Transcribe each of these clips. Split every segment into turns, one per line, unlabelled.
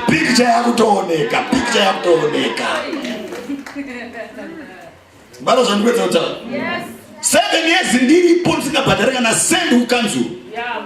Picha yakutooneka, picha yakutooneka. Bado zvandikwedza kutaura. Yes. Seven years ndiripo ndisingabhadhare kana sendi kukanzuru. Yeah.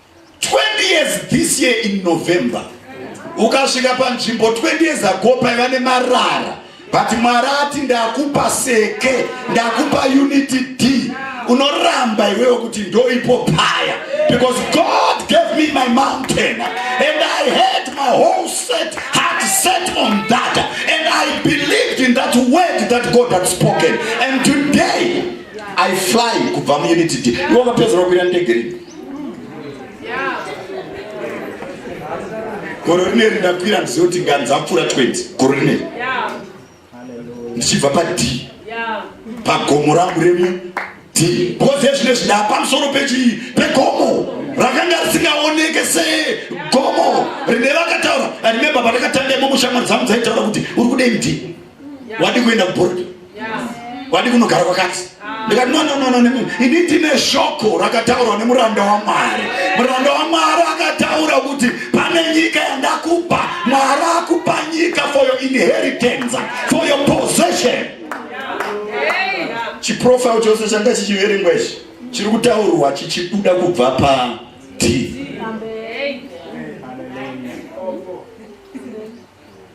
20 years this year in November ukasvika panzvimbo 20 years ago paiva nemarara but mwari ati ndakupa seke ndakupa unity d unoramba iwewe kuti ndoipo paya because god gave me my mountain and i had my whole set heart set on that and i believed in that word that god had spoken and today i fly kubva muunity d iwe vapedzera kukwira ndege rini goro rine rindakwira handizive kuti nganzapfuura 20 goro rine ndichibva pad pagomo rangu remu d because ezvine zvindaa pamusoro pechii pegomo rakanga risingaoneke segomo rine rakataura andimemba pandakatanga imomo shamwari dzangu dzaitaura kuti uri kudei mdi wadi kuenda kuboarding wadi kunogara kwakati ah. ndikati no no no no ini ndine shoko rakataurwa nemuranda wamwari muranda wamwari akataura kuti pane nyika yandakupa mwari akupa nyika for your inheritance for your possession chiprofile chose changa chichiverengwa ichi chiri kutaurwa chichibuda kubva pa t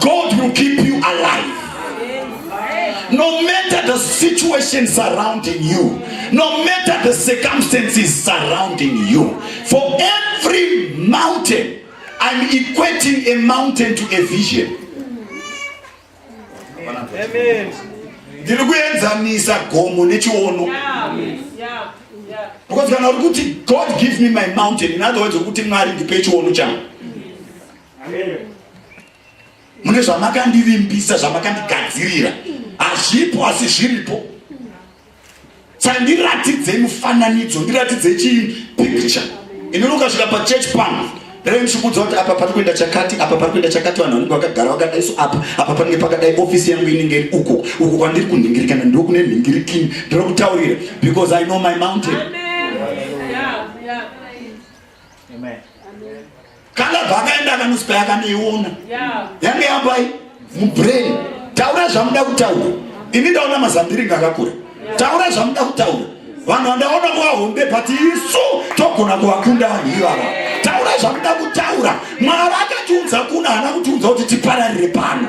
God will keep you alive. No matter the situation surrounding you, no matter the circumstances surrounding you, for every mountain, I'm equating a mountain to a vision. Amen. ndiri kuenzanisa gomo nechiono because kana uri kuti god give me my mountain in other words wekuti mwari ndipe chiono changu mune zvamakandivimbisa zvamakandigadzirira hazvipo asi zviripo saka ndiratidzei mufananidzo ndiratidzei chii picture inonoka svika pachurch pano reve ndichikuudza kuti apa pari kuenda chakati apa pari kuenda chakati vanhu vanenge vakagara vakadai so apa apa panenge pakadai ofisi yangu inenge iri uko uko kwandiri kunhingirikana ndo kune nhingirikini ndiri kutaurira because i know my mountain Amen. Yeah, yeah. Amen. kalabha akaenda akanusi pai akanoiona yange yapai mubrain taura zvamuda kutaura ini ndaona mazambiringa akakura taura zvamuda kutaura vanhu vandaona kuvahombe but isu togona kuvakunda vanhu ivava taura zvamuda kutaura mwari akatiunza kuna hana kutiunza kuti tipararire pano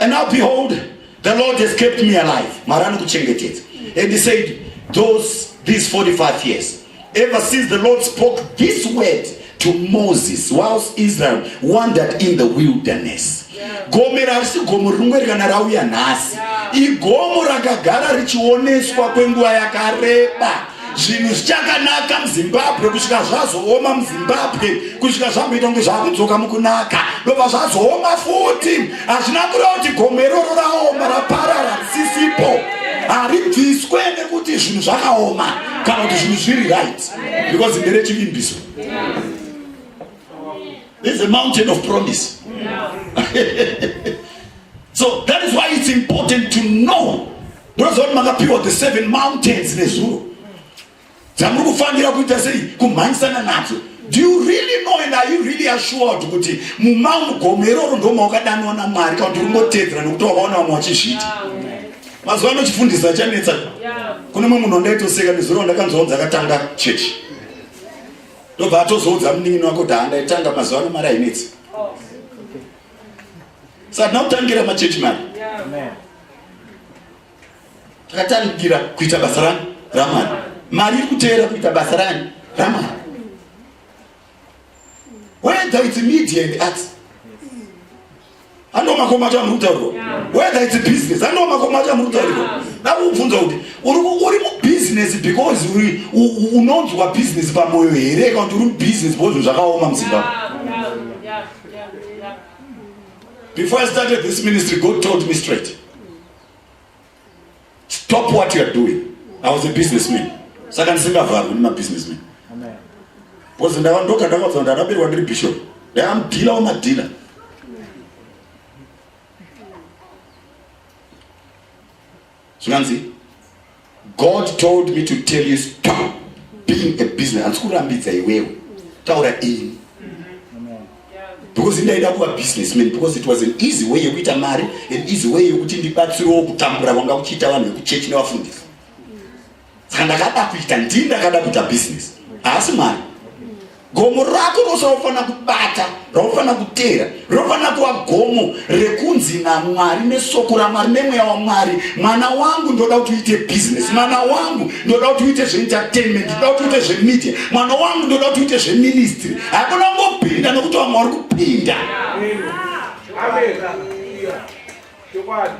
And now behold, the Lord has kept me alive. Mwari anokuchengetedza. And he said, those, these 45 years, ever since the Lord spoke this word to Moses whilst Israel wandered in the wilderness. Gome rasi gomo rimwe kana rauya nhasi. Igomo rakagara richioneswa kwenguva yakareba. zvinhu zvichakanaka muzimbabwe kusvika zvazooma muzimbabwe kusvika zvamboita kunge zvakudzoka mukunaka ndobva zvazooma futi hazvina kureva kuti gomo iroro raoma raparara risisipo haribviswe nekuti zvinhu zvakaoma kana kuti zvinhu zviri right because ndere chivimbiso there's a mountain of promise so that is why it's important to know Munoziva kuti makapiwa the seven mountains nezuro dzamuri kufanira kuita sei kumhanyisana nadzo do you really know and are you really assured kuti mumamugomo iroro ndomawakadanwa namwari kana kuti urimbotedzera nekuti wakaona vamwe vachizviita mazuva ano chifundisa chanetsa kune mwe munhu andaitoseka nezuro ndakanzwa kuti akatanga chechi ndobva atozoudza munin'ini wako kuti handaitanga mazuva ano mari ainetsi oh. saka tinokutangira machechi mari Ndakatandira kuita basa rani ramani, mari iri kuteera kuita basa rani ramani, whether it's media and arts andomakoma acho amurutaurwa whether it's business andomakoma acho amurutaurwa ndakubvunza kuti uri mubusiness because unonzwa business pamoyo here kana kuti uri mubusiness because zvakaoma muzimbabwe Before I started this ministry, God told me straight, stop what you are doing. I was a businessman. Saka ndisingavharwi nema businessman. Because ndava ndoka ndakabva ndaraberwa ndiri bishop. Dai am dealer wema dealer. zvinganzi God told me to tell you stop being a business handisi kurambidza iwewe taura ini because ndaida kuva businessman because it was an easy way yekuita mari an easy way yekuti ndibatsirewo kutambura kwanga kuchiita vanhu vekuchechi nevafundisi dzandakada kuita ndii ndakada kuita business haasi mwari gomo rako rose raufanira kubata raufanira kuteera rinofanira kuva gomo rekunzi namwari nesoko ramwari nemweya wamwari mwana wangu ndoda kuti uite business mwana wangu ndoda kuti uite zveentertainment ndoda kuti uite zvemedia mwana wangu ndoda kuti uite zveministry hakuna kungopinda nokuti vamwe vari kupinda Amen. Amen. Yeah.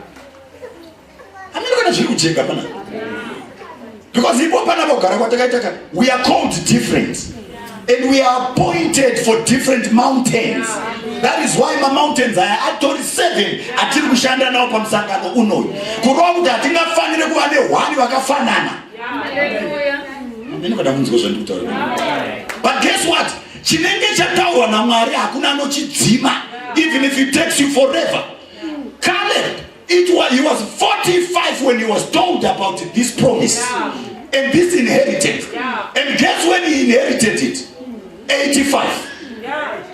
Hamiri kana zviri kujeka pana. Because ipo pana bogara kwatakaita kana we are called different and we are appointed for different mountains. That is why ma mountains aya atori 7 atiri kushanda nawo pamusangano unoyu. Kurova kuti hatingafanire kuva nehwani vakafanana. Hamiri kana munzwa zvandiri kutaura. But guess what? Chinenge chataurwa naMwari hakuna anochidzima even if it takes you forever. It was, he was 45 when he was told about this promise yeah. and this inheritance. Yeah. And guess when he inherited it? 85. Yeah.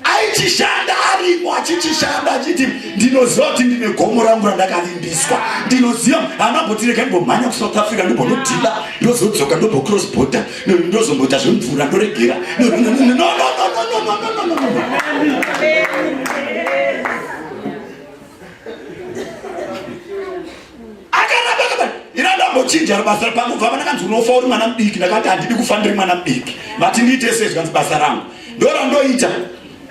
aichishanda arimo achichishanda achiti ndinoziva kuti ndine gomo rangu randakavimbiswa ndinoziva haana botireka ndibomhanya kusouth africa ndibonodhila ndozodzoka ndobocross border ndozomboita zvemvura ndoregera chinja basa pangu bva vanakanzi unofa uri mwana mudiki ndakati handidi kufa ndiri mwana mudiki vati ndiite sezvanzi basa rangu ndorandoita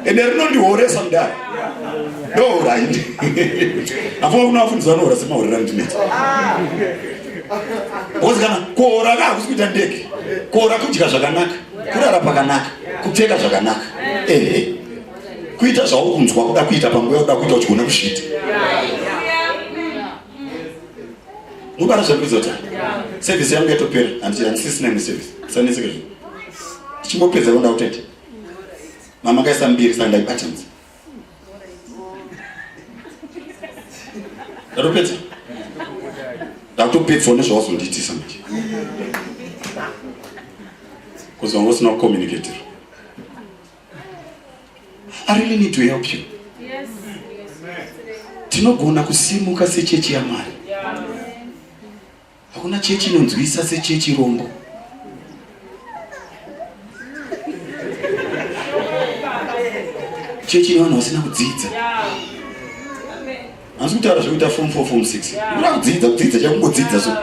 ende rinondihoresa mudare ndohora indi afuka kuna vafundisi vanohora semahorera ndinetsa bhozi kana kuhora ka hakusi kuita ndege kuhora kudya zvakanaka kurara pakanaka kupfeka zvakanaka ehe kuita zvauri kunzwa kuda kuita panguva yakuda kuita uchigona kuzviita mubara zvakuzota sevhisi yangu yatopera handisisina neservisi sanetseke zvo ndichingopedza konda kutete mama kaisa mbiri sandai buttons ndatopedza ndakutopedzawo nezvawazondiitisa manje bcause wanga usina kucommunicator i really need to help you tinogona kusimuka sechechi yamwari Hakuna chechi inonzwisa sechechi rombo. Chechi ine vanhu vasina kudzidza. Asi kutaura zvekuita form 4 form 6. Unoda kudzidza kudzidza chakungodzidza so.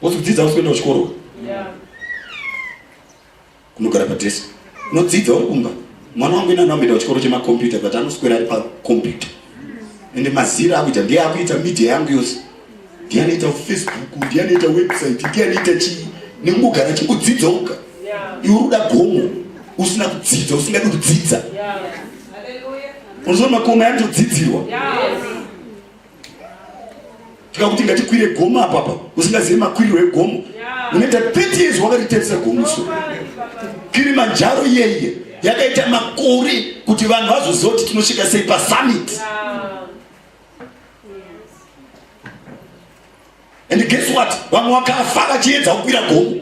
Wokudzidza usikuenda kuchikoro. Yeah. Kunogara padesk. Unodzidza uri kumba. Mwana wangu ina anoenda kuchikoro chemakombiyuta but anoswera ari pakombiyuta. Ende mazira akuita ndiye akuita media yangu yose. Ndiye anoita Facebook, ndiye anoita website, ndiye anoita chii. Nemugara chikudzidza uka. Iwe uda gomo usina kudzidza, usingadi kudzidza. Yeah. Hallelujah. Unozoona makoma yatodzidzirwa. Yeah. tikakuti ngatikwire gomo apapa usingazivi makwiriro egomo unoita 30 years wakariterisa gomo so kirimanjaro iyeiye yakaita makore kuti vanhu vazoziva kuti tinosvika sei pasummit yeah. And guess what? Vamwe wakafa vachiedza kukwira gomo.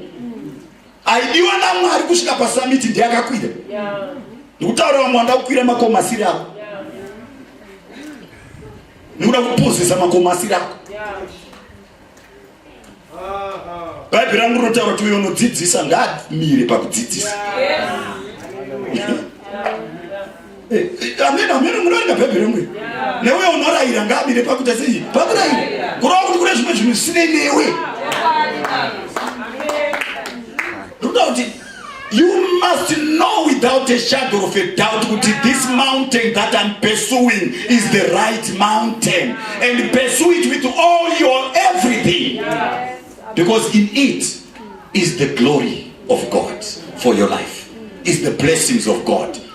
Aidiwa naMwari kusvika pasamiti ndiye akakwira. Ndikutaura vamwe wanda kukwira makomasiri ako. Nikuda kupuzisa makomasiri ako. Bhaibheri rangu rinotaura kuti uyo unodzidzisa ngaamire pakudzidzisa. Eh, eh, amene amene munoenda bhaibheri mwe newe unorayira ngaamire pakuita sei pakurayira kurava kuti kune zvimwe zvinhu zvisinei newe ndokuda kuti you must know without a shadow of a doubt kuti this mountain that i'm pursuing is the right mountain and pursue it with all your everything because in it is the glory of god for your life is the blessings of god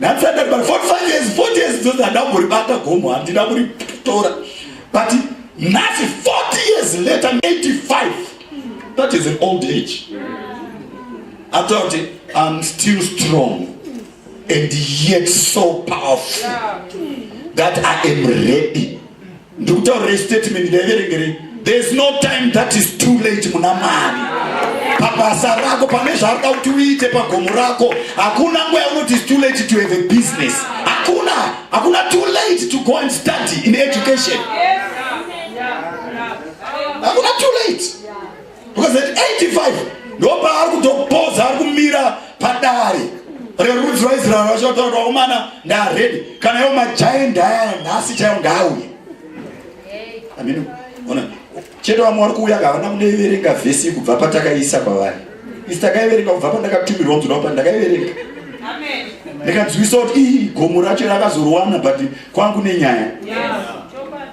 nhasi andati but 45 years 40 years dzozi handa kumboribata gomo handina kuritora but nhasi 40 years later 85 that is an old age atoa kuti im still strong and yet so powerful that i am ready Ndikutaurire statement ndaiverengerei. There is no time that is too late muna Mwari. Pabasa rako pane zvaruda kuti uite pagomo rako hakuna nguva yaunoti is too late to have a business. Hakuna, hakuna too late to go and study in education. Hakuna too late. because at 85 ndopaari kutopoza ari kumira padare rerudzi rwaisraeri vachotaura vakomana ndaredi kana iwo majai ndaya nhasi chaiwo ngaauye amino ona chete vamwe vari kuuya kavana kunoiverenga vhesi kubva patakaisa kwavari isi takaiverenga kubva pandakatumirwa mzuna pa ndakaiverenga ndikanzwisa kuti ii gomo racho rakazorwana but kwangu nenyaya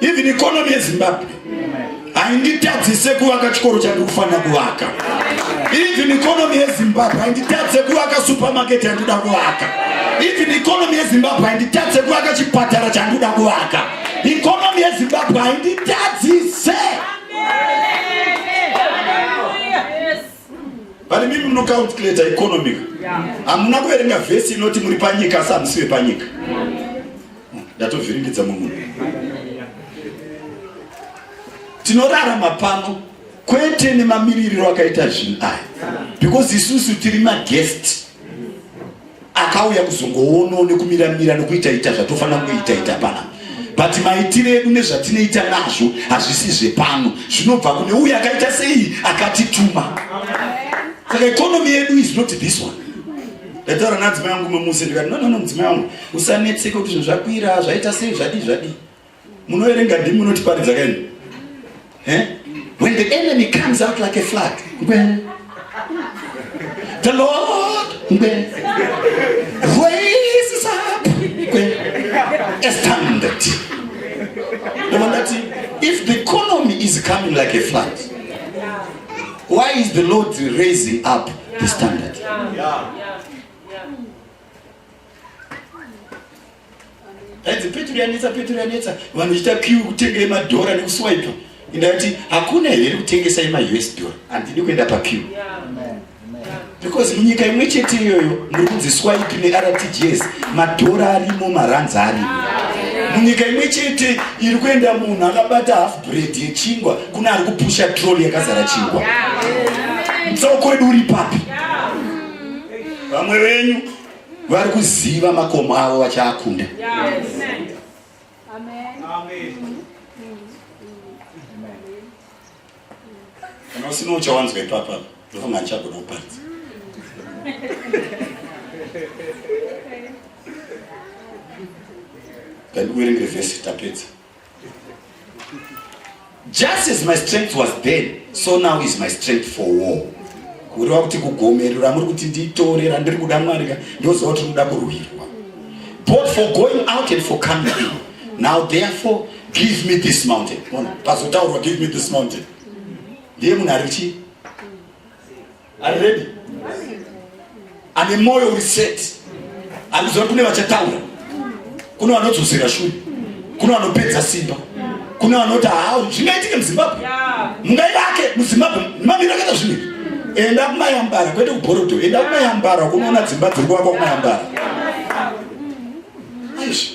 even economy yezimbabwe hainditadzise kuvaka chikoro chandiri kufanira kuvaka even economy yezimbabwe hainditadze kuvaka supermarket yandikuda kuvaka even economy yezimbabwe hainditadze kuvaka chipatara chandikuda kuvaka economy yezimbabwe hainditadzise pane mimi munocalculata economic hamuna kuverenga vhesi inoti muri panyika asi hamusi vepanyika yeah. Ndatovhiringidza munhu. Tinorarama pano kwete nemamiririro akaita zvinhu aya because isusu tiri maguest akauya kuzongoono nekumiramira nekuitaita zvatofanira kuitaita pana but maitiro edu nezvatinoita nazvo hazvisi zvepano zvinobva kune uyo akaita sei akatituma saka economy yedu is not this one ndataura nadzimai yangu mamuse ndikati nonono mudzimai wangu usanetseke kuti zvinhu zvakwira zvaita sei zvadii zvadii munoerenga ndimi munotiparidza kaini when the enemy comes out like a flag ngwe the lord ngwe raises up ngwe a standard ndoma ndati if the economy is coming like a flag why is the lord raising up the standard yeah. Yeah. Aidzi peturu yanetsa peturu yanetsa vanhu vachita kiu kutenga yemadhora nekuswipa ndati hakuna here kutengesa yemaus dollar handidi kuenda pakiu because munyika imwe chete iyoyo muri kunzi swipe nertgs madhora arimo maranzi arimo munyika imwe chete iri kuenda munhu akabata half bread yechingwa kuna ari kupusha trol yakazara chingwa mutsauko wedu uri papi vamwe venyu vari kuziva makomo avo vachaakunda kana usina uchawanzwa ipapa ndofunga ndichagona kuparidza ndandikuverengere vhesi tapedza Just as my strength was then, so now is my strength for war. Kureva kuti kugomero ramuri kuti nditore randiri kuda Mwari ka ndoziva kuti rinoda kurwirwa. Both for going out and for coming in. Now therefore give me this mountain. Pazotaurwa give me this mountain. Ndiye munhu ari chii? Are ready? Ane moyo uri set. Akuziva kune vachataura. Kune vanodzosera shure. Kune vanopedza simba. Kune vanoti haa zvingaitike muZimbabwe. Mungaivake muZimbabwe. Mamira kana zvine. Enda kumayambara kwete kubhorodo. Enda kumayambara kunoona dzimba dziri kuvakwa kumayambara. Aish.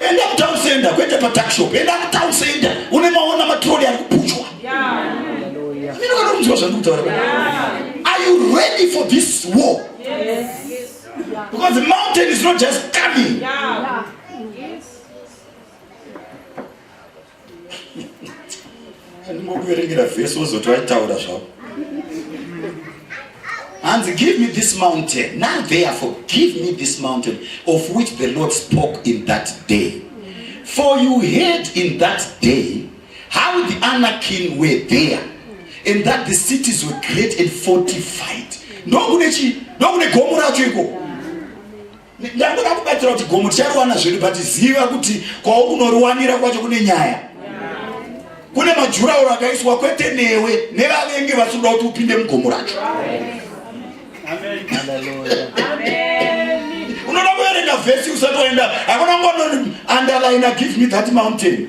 Enda kutown center kwete pa tuck shop. Enda kutown center. Une maona matroli ari kupuchwa. Yeah. Mimi kana mzwa zvangu kutaura. Are you ready for this war? Yes. Because the mountain is not just coming. Yeah. ndingokuverengera vhesi wozoti waitaura zvavo hanzi give me this mountain now therefore give me this mountain of which the lord spoke in that day for you heard in that day how the anakin were there and that the cities were great and fortified ndokune chii ndokune gomo racho ikoko ndangoda kubatsira kuti gomo tichariwana zvedu but ziva kuti kwaunoriwanira kwacho kune nyaya kune majurauro akaiswa kwete newe nevavenge vasikuda kuti upinde mugomo racho unoda kuverenga vhesi usati waenda hakuna ngono underline give me that mountain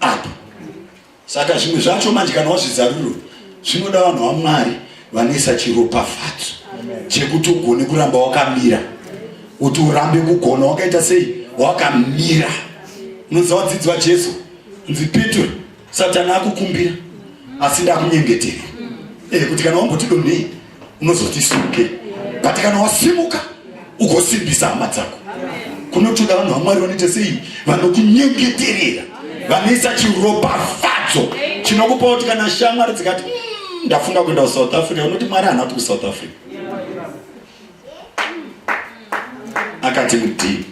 ah. saka zvimwe zvacho manje kana wazvizaruro zvinoda vanhu vamwari vanoisa chiropafadzo chekuti ugone kuramba wakamira kuti urambe kugona wakaita sei wakamira unoziva vadzidzi vajesu nzi petro satani akukumbira asi ndakunyengetere e, kuti kana wambotidonei unozoti simuke but kana wasimuka ugosimbisa hama dzako kunotoda vanhu vamwari vanoita sei vanokunyengeterera vanoisa chiropafadzo chinokupa kuti kana shamwari dzikati hmm, ndafunga kuenda kusouth africa unoti mwari haana kuti kusouth africa akati mudii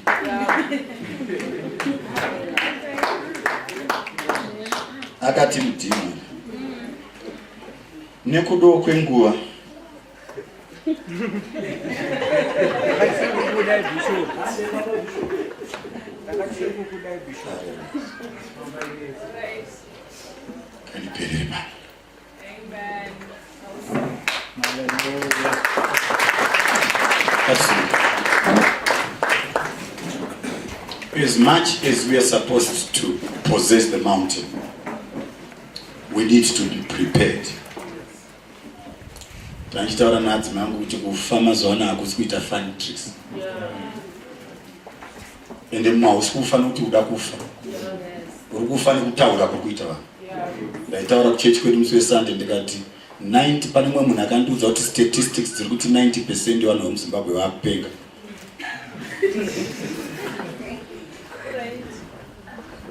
akati mudii Nekudawo kwenguva kanipereba As much as we are supposed to possess the mountain, We need to be prepared. Tandichitaura nadzi mangu kuti kufa mazuva ano hakusi kuita fun tricks. Ende mumwe hausi kufa nokuti uda kufa. Uri kufa nekutaura kuri kuita vanhu. Ndaitaura kuchechi kwedu musi weSunday ndikati 90 pane mumwe munhu akandiudza kuti statistics dziri kuti 90 percent yevanhu vemuZimbabwe vakupenga.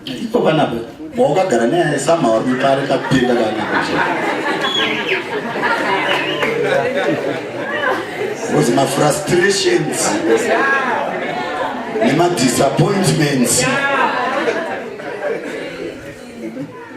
Iko kana be boka gara ne ya sama wa mi pare ka pinda ka na kuche. Was my frustrations. Ne ma disappointments. Yeah.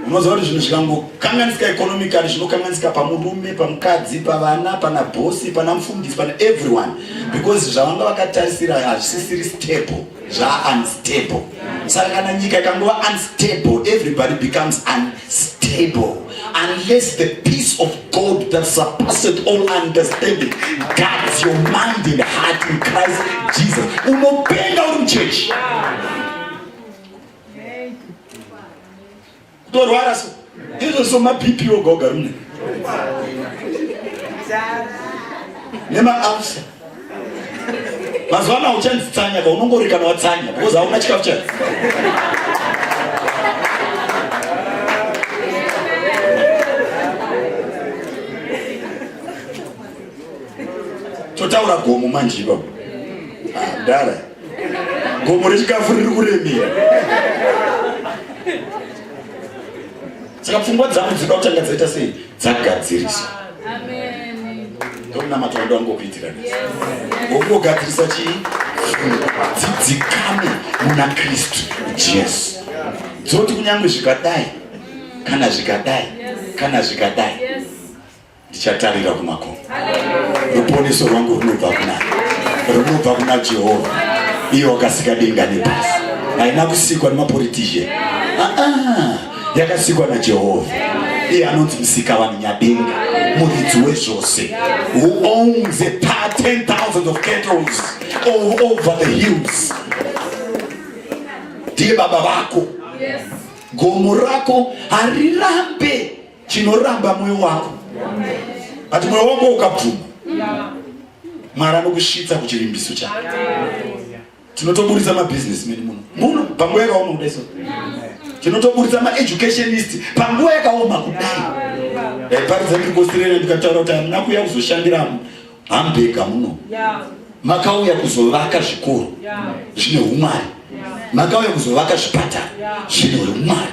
unoziva kuti zvinhu zvikangokanganisika economically zvinokanganisika pamurume pamukadzi pavana pana bosi pana mufundisi pana everyone because zvavanga vakatarisira hazvisisiri stable zvaunstable saka kana nyika ikangova unstable everybody becomes unstable unless the peace of god that surpasses all understanding guards your mind and heart in christ jesus unopenga uri muchechi yeah. kutorwara so ndizvo so mabp oga ogara mune nemaafsa mazuva ano hauchanzi tsanya ka unongorikana watsanya because hauna chikafu chai totaura gomo manje ipapo ah, dara gomo rechikafu riri kuremera saka pfungwa dzangu dzinoda kutanga dzaita sei dzagadziriswa ndokunamata wanda wangokuitira ngokugadzirisa chii dzidzikame muna kristu jesu dzoti kunyange zvikadai kana zvikadai kana zvikadai Ndichatarira kumakomo. Ruponeso rwangu runobva kuna runobva kuna Jehovha, iye wakasika denga nepasi. Haina kusikwa nemapolitician, ah, ah, yakasikwa naJehovha. Iye anonzi musika vanhu nyadenga, muridzi wezvose, who owns a part 10,000 of cattle all over the hills. Ndiye baba vako. Yes gomo rako harirambe chinoramba moyo wako but moyo wako ukabvuma mwari anokusvitsa kuchivimbiso chake tinotoburitsa mabusiness meni muno muno panguva yakaoma kudai so tinotoburitsa maeducationist panguva yakaoma kudai ndaiparidza ndiri kuaustralia ndikataura kuti hamuna kuuya kuzoshandira hambega muno makauya kuzovaka zvikoro zvine umwari makauya kuzovaka zvipatara zvine umwari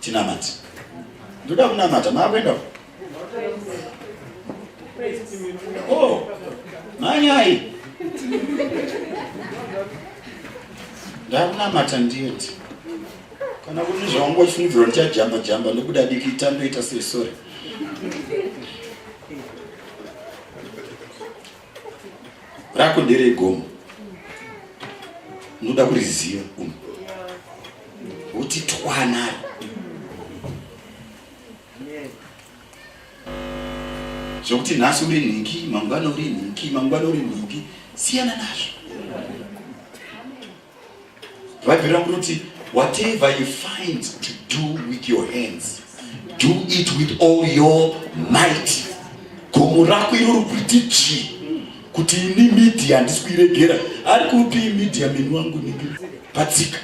tinamati ndoda kunamata maakuenda o oh, manyai ndakunamata ndiyeti kana kune zvaunga uchifungidzirwa ndichajamba jamba ndokuda diki tandoita sei sore rako ndere gomo unoda kuriziva uno kuti twanaro zvokuti nhasi uri nhingi mangwana uri nhingi mangwana uri nhingi siyana nazvo Bhaibheri rangu rinoti whatever you find to do with your hands do it with all your might. Gomo rako iro rikuiti chii kuti ini media handisi kuiregera ari kupi media meni wangu niki patsika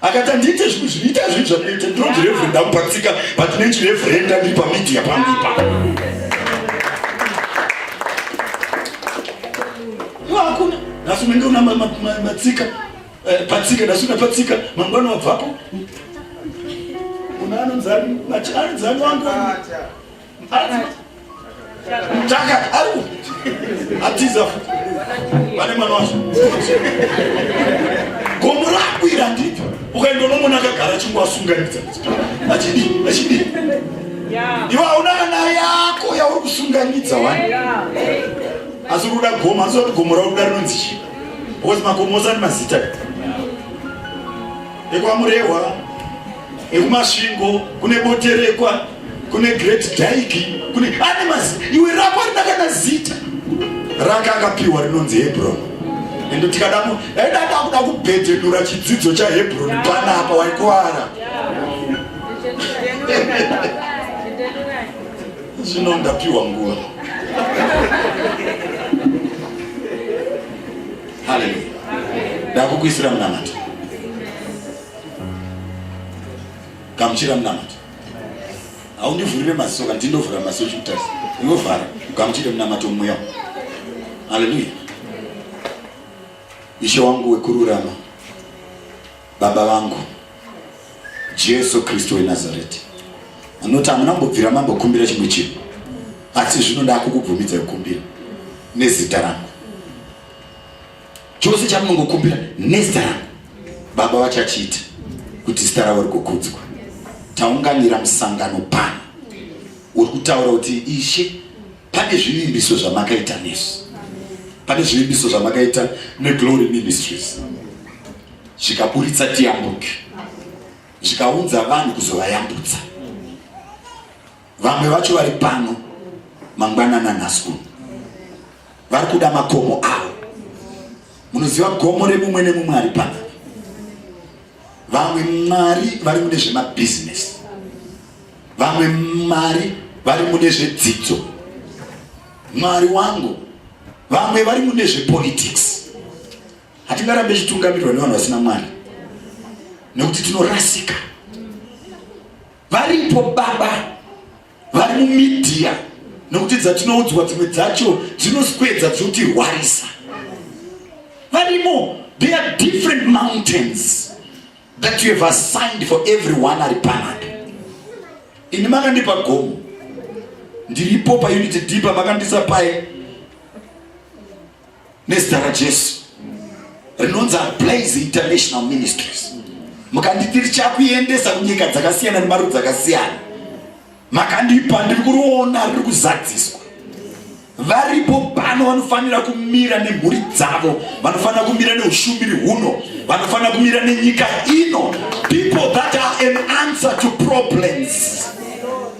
akati andiite zvinhu zvinoita zvinhu zvakaita ndinonzi reverenda mupatsika but nechi reverenda ndiri pamedia pangu ipapo Iwe hakuna. Nhasi unenge una matsika eh, patsika nhasi una patsika mangwana wabvapo. Una anonzi ari anonzi ari wangu. Chaka au. Atiza. Vane mwana wacho. Gomo rakwira ndito. Ukaenda unomona akagara chingwa asunganidza. Achidi, achidi. Iwe hauna kana yako yauri kusunganidza wani. asi uri kuda gomo asi kuti gomo rauda rinonzi chii because makomo ose ane mazita ekwamurehwa ekumasvingo kune boterekwa kune great daiki kune ane mazita iwe rako arina kana zita raka akapiwa rinonzi hebroni ende tikadamo aida dakuda kubhedhenura chidzidzo chahebroni panapa waikuvara Zvino ndapiwa nguva. Haleluya. Ndakukuisira munamato. Gamuchira munamato. Haundivhurire maziso kana ndindovhura maziso chikutasa. Unovhara ugamuchire munamato mweya. Haleluya. Ishe wangu wekururama. Baba vangu Jesu Kristu weNazareti, anoti hamuna kumbobvira mambokumbira chimwe chinhu, asi zvino ndakukubvumidza kukumbira nezita rangu. Chose chamunongokumbira nezita rangu, Baba vachachiita kuti zita ravo rikukudzwa. Taunganira musangano pano, uri kutaura kuti Ishe Pane zvivimbiso zvamakaita nesu, pane zvivimbiso zvamakaita neGlory Ministries zvikaburitsa tiyambuke, zvikaunza vanhu kuzovayambutsa. Vamwe vacho vari pano mangwanana nhasi uno vari kuda makomo avo. Munoziva gomo remumwe nemumwe ari pano Vamwe mari vari mune zvemabhizinesi, vamwe mari vari mune zvedzidzo, mwari wangu, vamwe vari mune zvepolitics. Hatingarambe tichitungamirirwa nevanhu vasina mwari nekuti tinorasika. Varipo baba vari mumedia nokuti dzatinoudzwa dzimwe dzacho dzinoswedza dzotirwarisa varimo there are different mountains that you have assigned for everyone ari panapa ini makandipa gomo ndiripo paunity deeper makandisa paye nezita rajesu rinonzi ablaze international ministries mukanditi richakuendesa kunyika dzakasiyana nemarudzi akasiyana makandipa ndiri kuriona riri kuzadziswa varipo pano vanofanira kumira nemhuri dzavo vanofanira kumira neushumiri huno vanofanira kumira nenyika ino people that are an answer to problems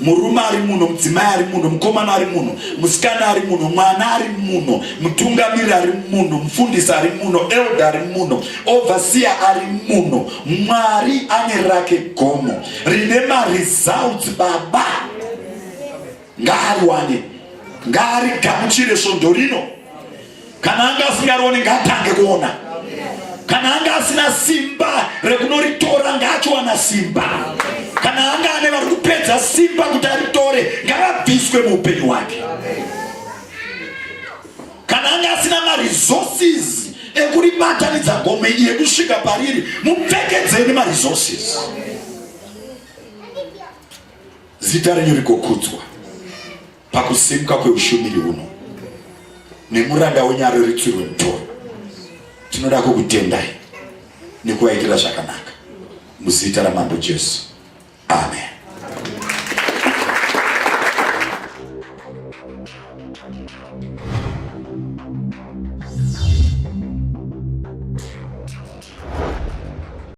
Murume ari muno, mudzimai ari muno, mukomana ari muno, musikana ari muno, mwana ari muno, mutungamiri ari muno, mufundisi ari muno, elder ari muno, overseer ari muno. Mwari ane rake gomo rine maresults baba. Ngaariwane, ngaarigamuchire svondo rino. Kana anga asingarione ngaatange kuona. Kana anga asina simba rekunoritora ngaachiwana simba. Kana anga ane vari kupedza simba kuti aritore ngaabviswe muupenyu hwake. Kana anga asina maresources ekuribatanidza gome iye kusvika pariri mupfekedzeni maresources. Zita renyu rigokudzwa. pakusimuka kweushumiri huno nemuranda wenyu areritsirwe mutoro tinoda kukutendai nekuvaitira zvakanaka muzita ramambo jesu amen